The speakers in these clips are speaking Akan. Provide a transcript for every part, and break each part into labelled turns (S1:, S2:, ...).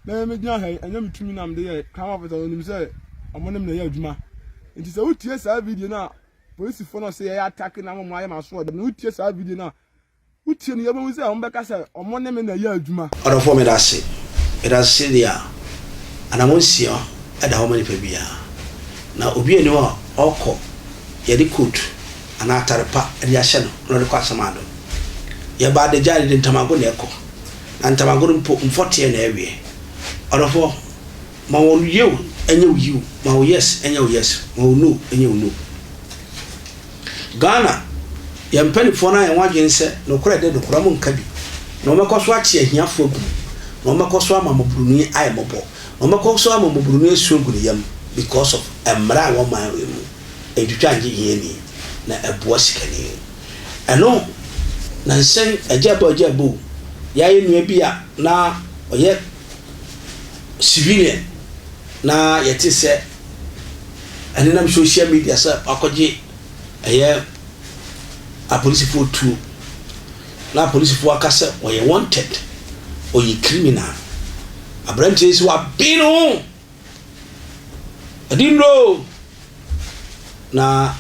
S1: na megyina ha yi, ɛnyɛ me tumi na mede yɛe, Crown Officer, wɔnim sɛ wɔn ne me na ɛyɛ adwuma. Nti sɛ wotie saa video no a polisifo no se yɛyɛ atake na wɔn ayɛ m'asoɔden no, wotie saa video no a, wotie no yie wobɛhu sɛ wɔbɛka sɛ wɔn ne me na ɛyɛ adwuma. Ɔdɔfoɔ medase.
S2: Medase sɛdeɛ a anammɔn nsia da hɔ ma nipa biara, na obiara nni hɔ a ɔkɔ yɛde coat anaa atare pa de ahyɛ no na ɔde kɔ Asamado. Yɛba adagya a yɛde ntamago na ɛkɔ. Na ntamagoro mpo mfɔteɛ na ɛweɛ. Ɔdɔfoɔ, ma wɔn yeo nyɛ wo yiw, ma wo yes nyɛ wo yes, ma wo no nyɛ wo no. Ghana, yɛn mpanifoɔ no ayɛ wɔn adwene sɛ nokorɛ de nokorɛ mo nka bi, na wɔbɛkɔ so akye ahiafoɔ agu mu, na wɔbɛkɔ so ama mmɔboroni ayɛ mmɔbɔ, na wɔbɛkɔ so ama mmɔboroni asu agu ne yam because of mmara a wɔman wei mu, ɛntwitwa ngye hiani, na ɛboa sikani. Ɛno na nhyɛn agyabuagyabu yɛayɛ nua bi a na ɔyɛ civilian na yɛte sɛ ɛnenam social media sɛ wakɔgye ɛyɛ apolisifoɔ tuo na apolisifoɔ aka sɛ ɔyɛ wanted ɔyɛ criminal aberanteɛ yi sɛ wabe no Ɛde nnuro o! Na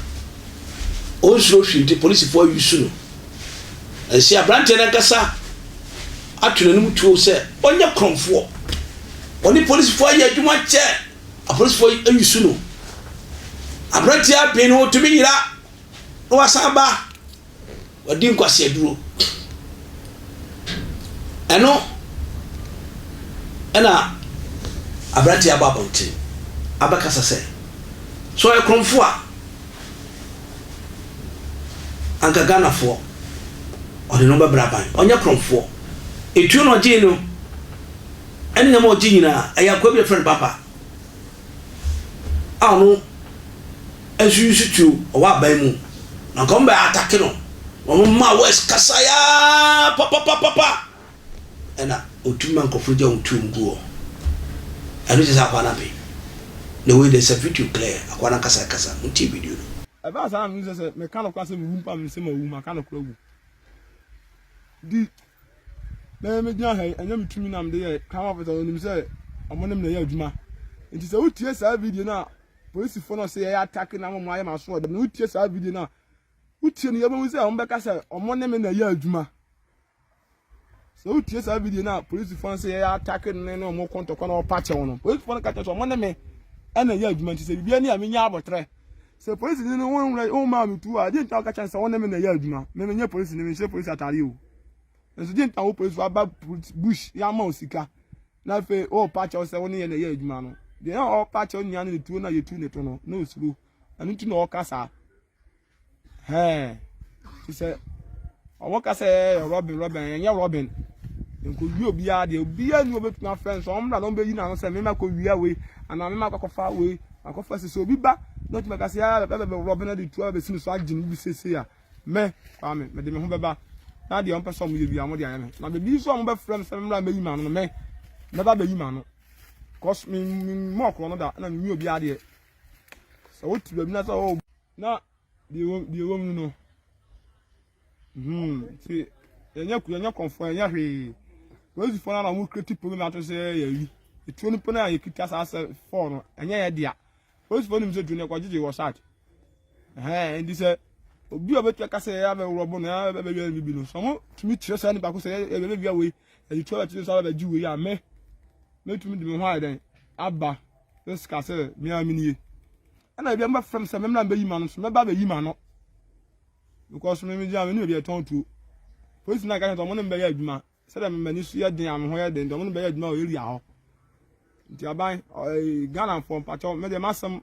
S2: ɔnsuro hwee nti polisifoɔ ayusu no. Ɛsɛ aberanteɛ no ankasa ato n'anim tuo sɛ ɔnyɛ korɔmfoɔ. Ɔne polisifoɔ ayɛ adwuma kyɛ. Apolisifoɔ ayusu no. Aberanteɛ aben no, ɔtumi yera na wasan aba. Wadi nkwaseaduro. Ɛno na aberanteɛ aba abɔnten abɛkasa sɛ, sɛ ɔyɛ korɔmfoɔ a, anka Ghanafoɔ ɔde no bɛbrɛ aban. Ɔnyɛ korɔmfoɔ. Etuo na ɔgyee no ne nneɛma a ɔgyee nyinaa, ɛyɛ akoa bi a wɔfrɛ no Baba. a ɔno nso nsu tuo wɔ aban mu na nka wɔn bɛ atake no wɔn mma west kasa yaa papapapapa ɛna otu ma nkɔfo gya wɔn tuo mu gu hɔ ɛno kyerɛ sɛ akwa na pe na wei de sɛ video clear akwa na kasa kasa mo ti video no. ɛbaa saa na menim sɛ sɛ
S1: meka nokora sɛ mewu mpo a menim sɛ mawu maka nokora wu di na megyina ha yi, ɛnyɛ me tumi na mede yɛe, Crown Officer no nim sɛ wɔn ne me na ɛyɛ adwuma. Nti sɛ wotie saa video no a polisifo no se yɛyɛ atake na wɔn ayɛ m'asoɔden no, wotie saa video no a, wotie no yɛbɛhu sɛ wɔbɛka sɛ wɔn ne me na ɛyɛ adwuma. Sɛ wotie saa video no a polisifo no se yɛyɛ atake no ne wɔn kɔntɔkɔ na wɔpa kyɛw no, polisifo no ka kyerɛ sɛ wɔn ne me ɛna ɛyɛ adwuma nti sɛ biribiara ni a menya abɔtrɛ. Sɛ polisini no wonwura wommaa me tuo a, gye nta woka kyerɛ no sɛ wo ne me na ɛyɛ adwuma. Me menyɛ polisini, menhyɛ polisi atare o. Nanso gye nta wo polisi waba bush yɛama wo sika na afei worepa kyɛw sɛ wo ne yɛ na ɛyɛ adwuma no. Deɛ na ɔrepa kyɛw nyinaa ne ne tuo no a yɛtu ne to no, na osuro. Ɛno nti na ɔreka saa. Hɛɛ. sɛ ɔwɔ ka sɛ ɛyɛ robin robin ɛnyɛ robin nkɔwie obiara deɛ obiara ni obɛtumi afrɛ nso ɔmmra na ɔmbɛyi n'ano sɛ mema kɔwia wei anaa mema kɔkɔfa wei akɔfa sɛ sɛ obi ba na ɔtumi ka sɛ ɛbɛbɛ robin ade tu abɛsi me so agye me bi sesei a mɛ kwaa me mede me ho bɛba na deɛ ɔmpɛ sɛ ɔmo yɛ bi a ɔmo de ayɛ me na baabi nso a ɔmo bɛfrɛ me sɛ memmra mɛyi m'ano no mɛ mɛba bɛyi m'ano cause me me mmɔ ɔkorɔ no da na menyi obiara deɛ sɛ wote baabi na sɛ ɔwɔ na deɛ ɛwɔ mu no hmm ti yɛnyɛ yɛnyɛ kɔnfoɔ yɛnyɛ hwee polisifoɔ no na wɔn kireti polo na ato sɛ yɛyi etuo no pɛn a yɛkita saa sɛ fɔɔ no ɛnyɛ yɛ dea polisifoɔ no mu sɛ tuo no ɛkɔgyegye wɔ saat ɛhɛn nti sɛ obi a obɛtua ka sɛ yɛyɛ abɛworɔ bo no yɛyɛ abɛwia no bibi no sɛ wɔn tumi kyerɛ saa nipa ko sɛ yɛyɛ abɛwia wei ɛyɛ tuo a ɛte sɛ abɛgye wei a me mɛtumi de me ho ayɛ dɛn aba Yesu kaa sɛ, Me ara menie. Ɛna ebi a mobɛfrɛ me sɛ memmra mbɛyi m'ano nso mɛba abɛyi m'ano. Because me megyina me ne baabi a yɛtɔn tuo. Polisi no aka sɛ wɔn ne me bɛyɛ adwuma sɛdeɛ me m'ani so yɛ den a me ho yɛ den nti wɔn ne me bɛyɛ adwuma wɔ area hɔ. Nti aban Ghanafoɔ mpakyɛw me deɛ m'asɛm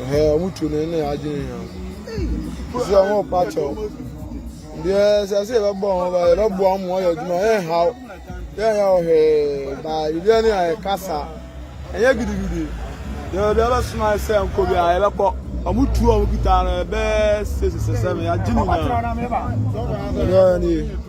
S1: Ɛhɛɛ, wɔn tuo no ne adwene hia. Ɛsɛ sɛ wɔn pa kyɛw. Deɛ sɛ sɛ yɛbɛbɔ wɔn ba yɛbɛboa wɔn wɔyɛ adwuma yɛn haw yɛn yɛ ɔhwee baa biribiara ne ayɛ kasa ɛnyɛ gidigidi deɛ obi abɛsoma sɛ nkɔ bi a yɛbɛkɔ wɔn tuo a wɔn kita no ɛbɛɛ sɛ sɛ sɛ sɛ yɛagye nyinaa ɛbɛyɛ ne yie.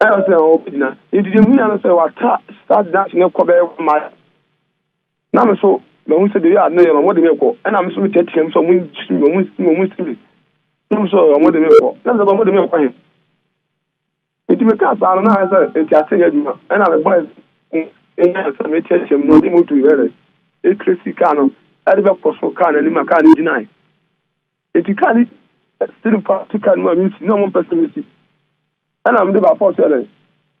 S3: Ɛyɛ sɛ ɔbɛgyina. Nti deɛ munya no sɛ wata start dance no kɔ bɛyɛ one mile. Na me so mahu sɛ baabi a ne yɛ no wɔde me kɔ. Ɛna me so meteatea mu sɛ wɔn nsi me, wɔn nsi me, wɔn nsi me. Na me so wɔde me kɔ. Na me sɛ wɔde me kɔ he. Nti mekaa saa no na ayɛ sɛ nti ase nyɛ adwuma. Ɛna me boys ɛnya sɛ meteatea mu na ɔde moto yɛ dɛ. Ɛkiresi kaa no ɛde bɛkɔ so kaa n'anim a kaa no gyinae. Enti kaa no sere faa so kaa no mu a misi na wɔmpɛ sɛ misi. Ɛna mede baako a sɛlɛ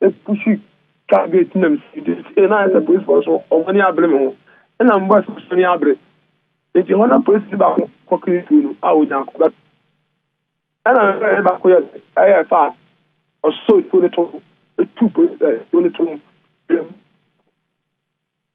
S3: epushi kaa gate na misi de si. Ɛna ayɛ sɛ polisifo nso wɔn ani abere me ho. Ɛna mebɔɔ sɛ wɔn ani abere. Enti hɔ na polisini baako kɔkee tuo no a onya akɔba. Ɛna me bɛyɛ baako yɛ ɛyɛ fa ɔsɔ tuo no to etu polisifo tuo no to.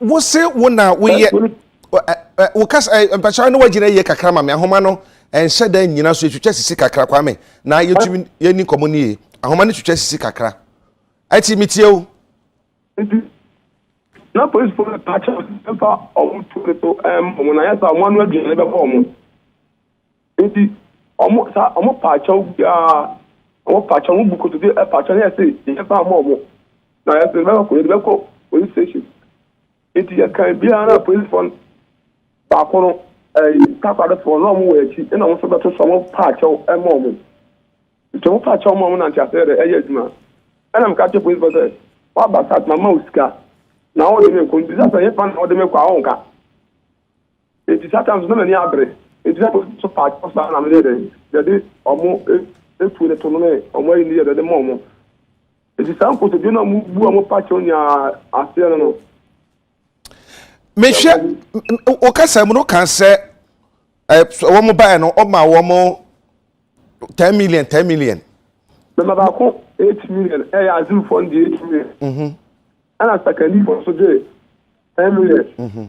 S4: wose wo na woyɛ wo kasa mpakyɛw ne wagyina yie kakra ma me ahoma no ɛnhyɛ da nyina so yɛtwitwa sisi kakra kwa me na yɛtumi yɛni nkɔmmɔ no yie ahoma no twitwa sisi kakra ɛti metie o
S3: na polisifo no ka kyerɛ mfa ɔmo tuo no so ɛmma ɔmo na yɛ sɛ ɔmo ano aduane bɛbɔ ɔmo Enti ɔmo saa ɔmo paa kyɛw biara ɔmo paa kyɛw ɔmo bu kotodwe ɛpaa kyɛw yɛ se yɛ ba ama ɔmo na yɛ de bɛkɔ yɛ de bɛkɔ police station enti yɛ kan biara na police fo baako no ɛyi takoradi fo na ɔmo wɔ akyi ɛna ɔmo nso bɛto so ɔmo paa kyɛw ɛma ɔmo nti ɔmo paa kyɛw ma ɔmo nante ase yɛ ɛyɛ adwuma ɛna mo ka kyɛ police fo sɛ waba sa ma ma o sika na ɔde mi nkɔ nti sasa yɛ fa na ɔde mi kɔ a ɔnka. Enti Satan nso, na n'ani abere. Enti na polisifoɔ nso paa kyɛw saa ara na wɔyɛɛ dɛn? Wɔde wɔn afuo no tonomee wɔn ani no yɛɛ dɛn? Wɔde maa wɔn. Enti saa nkotodwe no a wɔbu a wɔpa kyɛw nyinaa aseɛ no no,
S4: mehwɛ wo kasa mu no ka sɛ wɔn baeɛ no ɔma wɔn ten million ten million. bɛma
S3: baako eight million ɛyɛ eh, azimfoɔ no de eight million ɛna mhm. sakandifoɔ nso gye ten million. Mhm.